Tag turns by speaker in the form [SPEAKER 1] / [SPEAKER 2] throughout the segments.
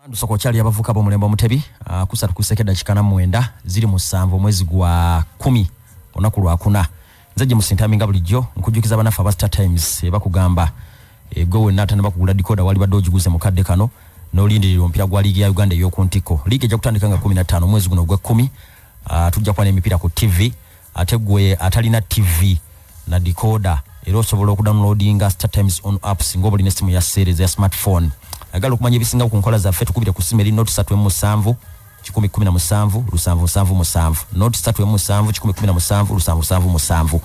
[SPEAKER 1] Ndusoko okyali abavuka b'omulembe omutebi ah, kusatu kuseke dakika na mwenda ziri musanvu omwezi gwa kumi olunaku lwakuna nze gye musintami nga bulijjo nkujjukiza banaffe aba star times ebakugamba eh, gwe wenna atanaba kugula dikoda walibadde ogiguze mu kadde kano n'olindirira omupira gwa liigi ya uganda ey'oku ntikko liigi ejja kutandika nga kumi na ttaano omwezi guno ogw'ekkumi ah, tujja kuba n'emipiira ku ttivi ate gwe atalina tv na decoda era osobola okudownloadinga startimes on apps nga obalina essimu ya seereza ya smartphone agala okumanya ebisinga ku nkola zaffe tukubire ku ssimu eri not 37 kikumi kumi na musanvu lusanvu nsanvu musanvu not satu emu musanvu kikumi kumi na musanvu lusanvu nsanvu musanvu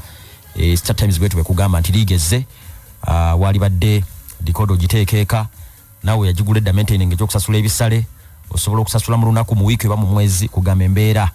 [SPEAKER 1] e, startimes bwetu bwekugamba nti liigezze uh, ah, waalibadde dikodo giteekeeka naawe yagigula edda maintaining ekyokusasula ebisale osobola okusasula mu lunaku mu wiiki oba mu mwezi kugamba embeera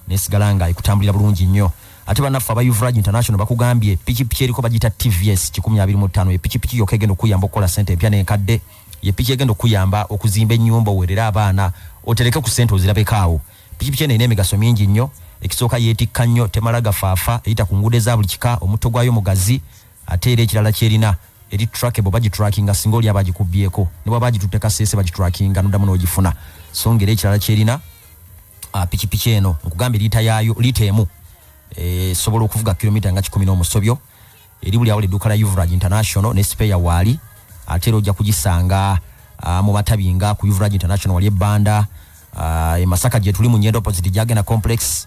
[SPEAKER 1] nesigala nga ekutambulira bulungi nnyo ate banaffe aba uvrage international bakugambye pikipiki eriko bagita tvs 25 epikipiki yoka egenda okuyamba okukola sente empya nenkadde yepiki egenda okuyamba okuzimba enyumba owerere abaana otereke ku sente ozirabekaawo pikipiki eno erina emigaso mingi nnyo ekisooka yeetikka nnyo temala gafaafa eyita ku nguudo eza buli kika omutto gwayo mugazi Ate era ekirala kyerina eri trackable bagitrackinga singa oli aba agikubyeko ne bwaba agitutte kaseese bagitrackinga noddamu n'ogifuna so ngeri ekirala kyerina ah, pikipiki eno nkugambye liita yaayo liita emu eh, esobola okuvuga kilomita nga kikumi n'omusobyo eri buli awola edduuka lya uvrage international ne sipeya waali ate era ojja kugisanga ah, mu matabi nga ku uvrage international wali ebbanda ah, e masaka gyetuli mu nyenda opposite gyagenda complex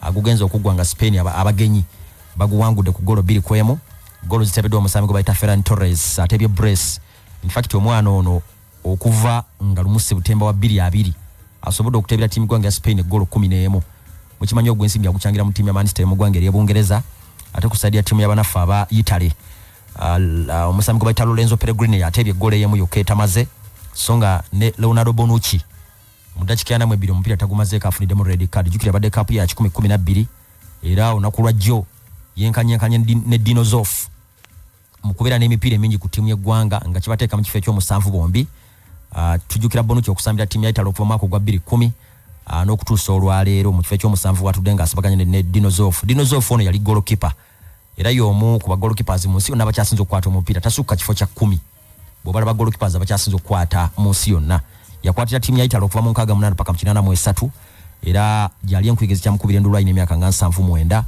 [SPEAKER 1] agugenze okuggwa nga Spain abagenyi baguwangudde ku golo bbiri kwemu golo zitebeddwa omusambi gwe bayita Ferran Torres atebye brace infact omwana ono okuva nga lumu sebutemba wa bbiri abiri asobodde okutebera tiimu gwanga ya Spain eggolo kumi n'emu mukimanyi ogwensimbi agucangira mu tiimu ya Manchester mu gwanga ery'Ebungereza ate ku saidi ya tiimu y'abanaffe aba Italy uh, omusambi gwe bayita Lorenzo Pellegrini atebye eggolo eyemu yokka etamaze so nga ne Leonardo Bonucci mu dakika yanamu ebbiri omupiira tagumazeeko afuniddemu red card jukira abadde kaapu ya kikumi kumi nabbiri era olunaku lwa jjo yenkanyenkanye ne dinosof mu kubeera n'emipiira emingi ku ttiimu y'eggwanga nga kibateeka mu kifo ekyomusanvu bombi ah, tujjukira bonuki okusambira ttiimu ya italo okuva mwaka ogwa bbiri kkumi ah, n'okutuusa olwaleero mu kifo ekyomusanvu watudde nga asibaganye ne dinosof dinosof ono yali golokipa era y'omu ku bagolokipas mu nsi yonna abakyasinza okukwata omupiira tasukka kifo kya kkumi bwebalaba golkipas abakyasinza okukwata mu nsi yonna yakwatira tiimu ya itale okuva mu nkaaga munaana paka mu kinaana mu esatu era gyali enkuyege zikyamukubira endulu alina emyaka nga nsanvu mwenda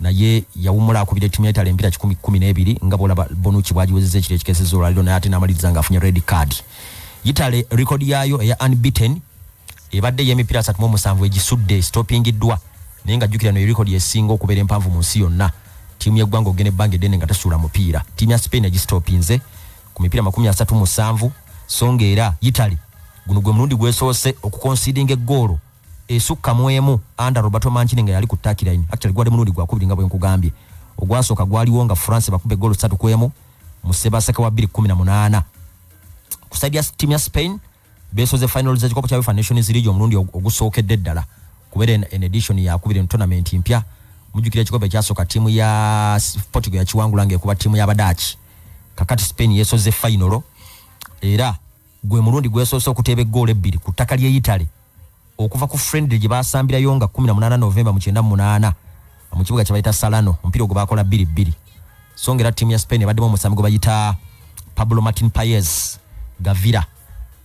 [SPEAKER 1] naye yawumula akubira tiimu ya itale empira kikumi kumi n'ebiri nga bwolaba bonuki bwagiwezeza ekiro ekikeseza olwaliro naye ate n'amaliriza ng'afunye red card itale rekodi yaayo eya unbeaten ebadde ey'emipiira 37 egisudde esitopingiddwa naye nga jjukira no erikodi esinga okubeera empanvu mu nsi yonna ttiimu y'eggwanga okugenda ebbanga eddene nga tesuula mupiira ttiimu ya spain egisitopinze ku mipiira 37 so nga era italy guno gwe mulundi gwesoose okukonsidinga eggoolo esukka mu emu anda roberto mancini nga yali ku takilaini actually gwali mulundi gwakubiri nga bwe nkugambye ogwasooka gwaliwo nga france bakuba eggoolo satu ku emu mu sebaseka wa 218 ku saidi ya ttiimu ya spain besoze finals z'ekikopo kya UEFA Nations League omulundi ogusookedde ddala kubeera en edition yakubiri mu tournament mpya mujjukira ekikopo ekyasooka ttiimu ya Portugal yakiwangula ng'ekuba ttiimu y'Abadaaki kakati Spain yesoze fayinolo era gwe mulundi gwesoose okuteeba eggoolo ebbiri ku ttaka ly'e Italy okuva ku friendly gye baasambirayo nga 18 novemba mu 98 mu kibuga kye bayita salano omupiira ogwo baakola bbiri bbiri so nga era ttiimu ya spain ebaddemu omusambi gwe bayita pablo martin payes gavira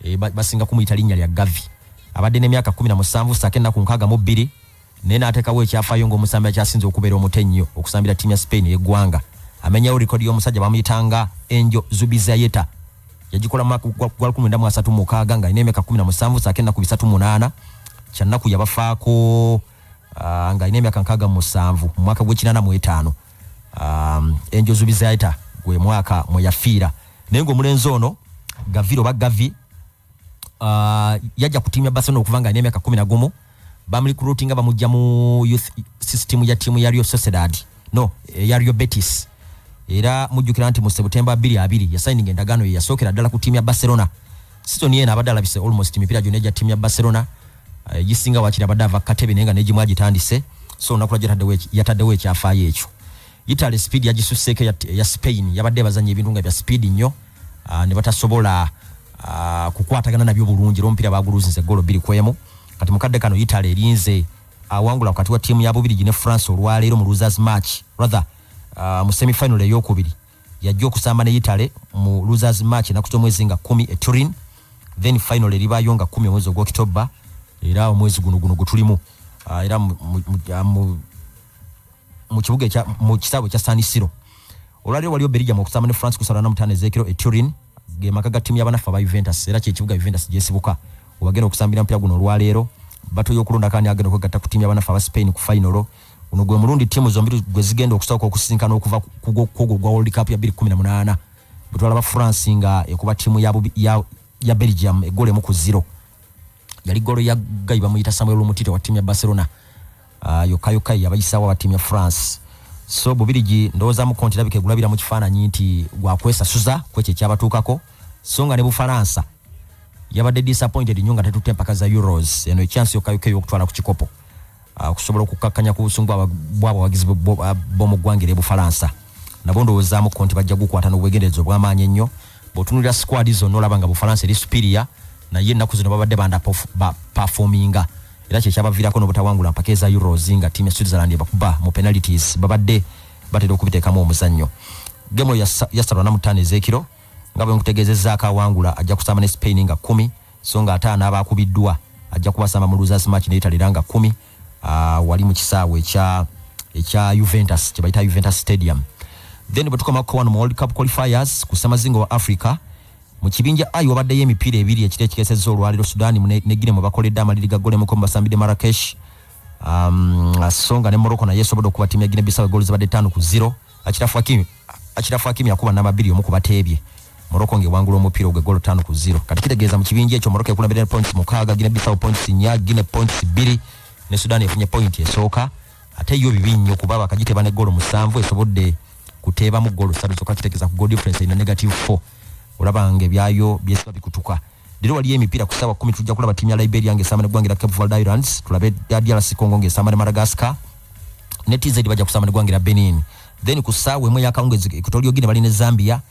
[SPEAKER 1] e, basinga kumuyita linnya lya gavi abadde n'emyaka 17 saako ennaku nkaaga mu bbiri naye n'ateekawo ekyafaayo ng'omusambi akyasinze okubeera omuto ennyo okusambira ttiimu ya spain ey'eggwanga amenyawo likodi y'omusajja bamuyitanga enjo zubizayeta yagikola mu mwaka gwa lukumi lwenda mu asatu mu mukaaga ng'alina emyaka kkumi na musanvu saako ennaku bisatu munaana kyannaku yabafaako ah, ng'alina emyaka nkaaga mu musanvu mu mwaka gw'ekinaana mu etaano ah, enjozu bizaita gwe mwaka mwe yafiira naye ng'omulenzi ono gaviro oba gavi ah, yajja ku tiimu ya barcelona okuva ng'alina emyaka kkumi na gumu bamrecruitinga bamujja mu youth system ya tiimu ya Real Sociedad no eh, ya Real Betis era mujjukira nti mu September 22 yasayininga endagaano ye yasookera ddala ku tiimu ya Barcelona sizoni eno abadde alabise almost emipiira gyonna egya tiimu ya Barcelona eh, gisinga wakiri abadde ava katebe naye nga negimu agitandise so olunaku lwajjo yataddewo ekyafaayo ekyo Italy speed yagisusseeko eya Spain yabadde bazanya ebintu nga bya speed nnyo ah, ne batasobola ah, kukwatagana nabyo bulungi era omupiira baaguluzinze golo bbiri ku emu kati mu kadde kano Italy erinze awangula wakati wa ttiimu ya Bubirigi ne France olwaleero mu losers match rather ah, mu semifinal eyokubiri yajja okusamba ne Italy mu losers match enaku z'omwezi nga kumi e Turin then final eribaayo nga kumi omwezi ogwokitobba era omwezi guno guno gwe tulimu era mu mu kibuga ekya mu kisaawe ekya San Siro olwaliro waliyo Belgium okusamba ne France kusala na mutane zekiro e Turin ge maka ga timu yabanaffa ba Juventus era kye kibuga Juventus gyesibuka obagenda okusambira mpira guno olwaleero batoyo okulonda kani agenda okwegatta ku timu yabanaffa ba Spain ku final uno gwe mulundi timu zombiri gwe zigenda okusooka okusisinkana okuva kugwo gwa World Cup ya 2018 bwetwalaba France nga ekuba timu ya, ya, ya Belgium egole mu ku zero yali golo ya gayi bamuyita samuel lumutito wa timu ya barcelona uh, yokayokai abayisawo aba timu ya france so bubirigi ndowoozamu konti labika egulabira mu kifaananyi nti gwakwesasuza kwekyo ekyabatuukako so nga ne bufaransa yabadde disappointed nyo nga tetutte empaka za euros eno ekyansi yokayokai okutwala ku kikopo Ah, okusobola okukkakkanya ku busungu bw'abawagizi b'omu ggwanga er'e bufalansa nabo ndowoozaamukko nti bajja gukwata n'obwegendereza obw'amaanyi ennyo bw'otunulira sikwadi zonna olaba nga bufalansa eri supiriya naye ennaku zino babadde banda pafominga era kyekyabaviirako n'obutawangula mpaka eza euros nga tiimu ya switzerland ebakuba mu penalities babadde batera okubiteekamu omuzannyo gemu yasalwa namutaano ez'ekiro nga bwe nkutegeezezaako awangula ajja kusamba ne spain nga kumi so nga ate anaaba akubiddwa ajja kubasamba mu losers match naye talera nga kumi uh, wali mu kisaawe ekya ekya Juventus kye bayita Juventus Stadium then bwe tukoma kukowa mu World Cup qualifiers ku samazingo wa Africa mu kibinja ayi wabaddeyo emipiira ebiri ekiro ekikesezza olwaliro Sudani ne Guinea mwe bakoledde amaliri ga gole muko basambide Marrakesh um, songa ne Morocco naye esobodde okuba tiimu ya Guinea Bissau gooli zibadde ttaano ku zero Achirafu Akimi Achirafu Akimi akuba namba biri omu kubateebye Morocco nge wangula omupiira ogwe golo tano ku zero kati kitegeeza mu kibinja ekyo Morocco ekulambira ne points mukaaga Guinea Bissau points nya Guinea points biri ne Sudan efunye point esooka ate yo bibi nnyo kuba bakagiteba ne golo musanvu esobodde kuteebamu golo satu zokka kitegeeza ku goal difference ina negative 4 olaba nga ebyayo byesiba bikutuka Leero waliyo emipiira ku ssaawa kkumi tujja kulaba ttiimu ya Liberia ng'esamba n'eggwanga erya Cape Verde Islands, tulabe DRC Congo ng'esamba ne Madagascar, ne TZ bajja kusamba n'eggwanga erya Benin. Then ku ssaawa emu ey'akawungeezi Equatorial Guinea bali ne Zambia,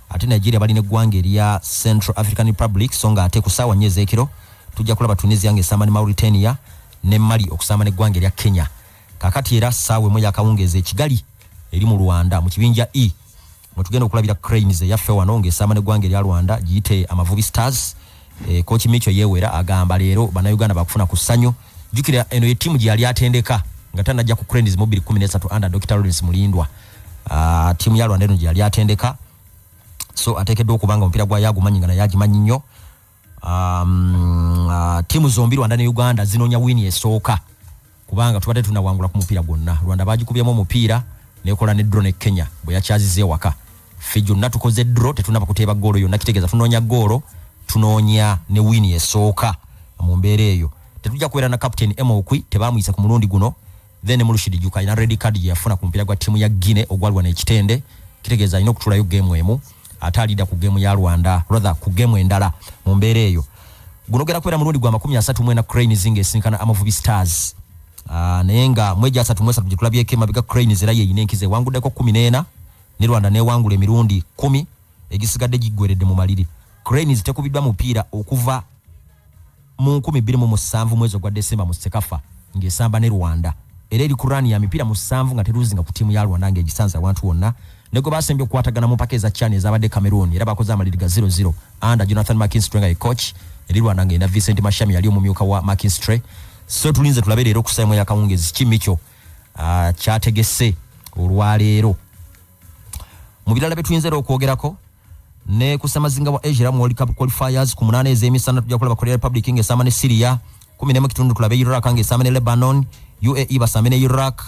[SPEAKER 1] ate Nigeria bali n'eggwanga erya Central African Republic, so nga ate ku ssaawa nnya ez'ekiro tujja kulaba Tunisia ng'esamba ne Mauritania, ne Mali okusamba n'eggwanga erya Kenya. Kakati era saawa emu yakawungeezi e Kigali eri mu Rwanda mu kibinja E mwetugenda okulabira Cranes eyaffe wano ng'esamba n'eggwanga erya Rwanda giyite Amavubi Stars. E, Kooki Micho Yewera agamba leero bannayuganda bakufuna ku ssanyu. Jjukira eno ye ttiimu gye yali atendeka nga tanajja ku Cranes mu 2013 under Dr. Lawrence Mulindwa. Uh, ttiimu ya Rwanda eno gye yali atendeka so ateekeddwa okuba nga omupiira gwayo agumanyi nga naye agimanyi nnyo. um, uh, tiimu zombi rwanda ne uganda zinoonya wiini esooka kubanga tubadde tunawangula ku mupiira gwonna rwanda bagikubyemu omupiira nekola ne dro ne kenya bwe yakyaziza ewaka ffe gyonna tukoze dro tetunaba kuteeba goolo yonna kitegeeza tunoonya goolo tunoonya ne wiini esooka mu mbeera eyo tetujja kubeera na captain emokwi tebamuyisa ku mulundi guno then ne mulushidi juka alina red card gye yafuna ku mupiira gwa ttiimu ya guine ogwalwana ekitende kitegeeza alina okutulayo geemu emu ate alida ku geemu ya rwanda rather ku geemu endala mu mbeera eyo guno gera kubeera mulundi gwa makumi asatu mwena cranes nga esinkana amavubi stars uh, naye nga mweja asatu mwesatu gye tulabyeko emabega cranes era yeyina enkiza ewanguddeko kumi n'ena ne rwanda newangula emirundi kumi egisigadde giggweredde mu maliri cranes tekubiddwa mupiira okuva mu nkumi bbiri mu musanvu mwezi ogwa Desemba mu Sekafa ng'esamba ne Rwanda era eri ku rani ya mipiira musanvu nga teruuzinga ku ttiimu ya Rwanda ng'egisanze awantu wonna ne gwe baasembye okukwatagana mu mpaka eza CHAN ezabadde Cameroon era bakoze amaliri ga 00 anda Jonathan McKinstry nga ye coach eri Rwanda ng'erina Vincent Mashami yali omumyuka wa McKinstry so tulinze tulabe leero okusaamu yakawungezi ki mikyo ah, kyategese olwaleero mu birala bye tuyinza era okwogerako ne ku ssemazinga wa asia mu world cup qualifiers ku munaana ez'emisana tujja kulaba korea republic ng'esamba ne syria kumi nemu kitundu tulabe iraq ng'esamba ne lebanon uae basambe ne iraq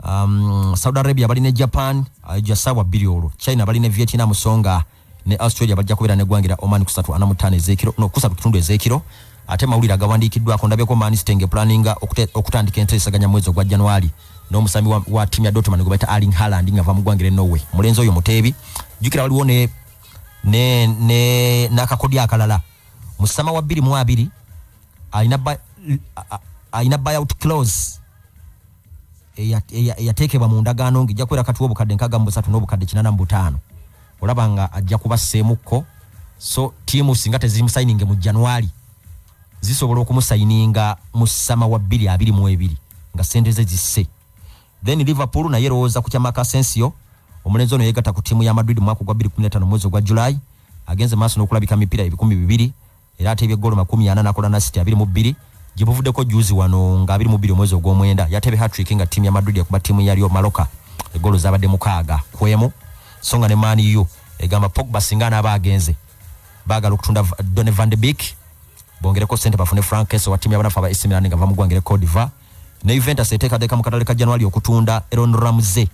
[SPEAKER 1] um, saudi arabia bali ne japan uh, jasabwa bbiri olwo china bali ne vietnam songa ne australia bajja kubeera neggwangira oman kusatu ana mutaano ezekiro no kusatu kitundu ezekiro ate mawulire agawandiikiddwako ndabyeko manisitenge planinga okutandika enteesaganya mwezi ogwa januari n'omusambi wa, wa timu ya Dortmund gwe bayita Erling Haaland nga va mu ggwanga Norway mulenzi oyo muteebi jjukira waliwo ne ne ne n'akakodyo akalala mu sama wa bbiri mu abiri alina alina buyout clause eyateekebwa mu ndagaano nga ejja kubeera kati w'obukadde nkaaga mu busatu n'obukadde kinana mu butaano olaba nga ajja kubasseemukko so tiimu singa tezirimu sayininge mu january zisobola okumusayininga mu sama wa bbiri abiri mu ebiri nga sente ze zisse then liverpool naye erowooza ku kyamaka asensio omulenzi ono yegatta ku ttiimu ya madrid mu mwaka ogwa 2015 mwezi ogwa july agenze maaso n'okulabika mipiira ebikumi bibiri era ateebye ggoolo makumi ana nakola na city abiri mu bbiri gye buvuddeko juzi wano nga abiri mu bbiri omwezi ogw'omwenda yateebe hatrick nga ttiimu ya madrid ekuba ttiimu yalyo maloka eggoolo zaabadde mukaaga ku emu so nga ne maani u egamba pogba singa anaaba agenze bagala okutunda Donny van de Beek bongereko sente bafune Frank Kessel wa timu y'abanafu aba AC Milan nga va mu ggwanga ery'e Cote d'Ivoire ne Juventus eteekateeka mu katale ka January okutunda Aaron Ramsey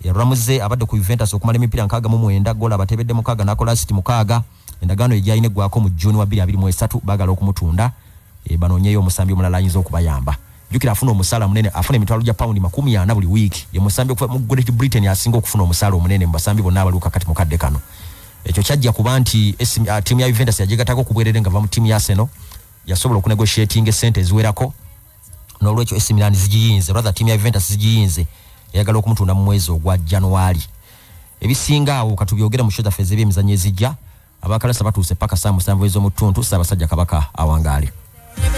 [SPEAKER 1] Ramsey abadde ku Juventus okumala emipiira nkaaga mu mwenda ggoolo abatebedde mukaaga n'akola asiti mukaaga endagaano ye gyalina eggwako mu June wa 2023 bagala okumutunda eh, banoonyeyo omusambi omulala ayinza okubayamba Jukira afuna omusala munene afuna emitwalo gya paundi makumi ana buli wiiki ye musambi okuva mu Great Britain asinga okufuna omusala omunene mu basambi bonna abaliwo kakati mu kadde kano ekyo kyajja kuba nti uh, tiimu ya Juventus yagigatako ku bwerere nga va mu tiimu ya Arsenal yasobola okunegotiatinga esente eziwerako n'olwekyo AC Milan zigiyinze rather tiimu ya Juventus zigiyinze eyagala okumutunda mu mwezi ogwa January ebisinga awo katubyogera mu shoda feze byemizanyo ezijja abakalasa batuuse paka saa musanvu ez'omu ttuntu Ssaabasajja Kabaka awangaale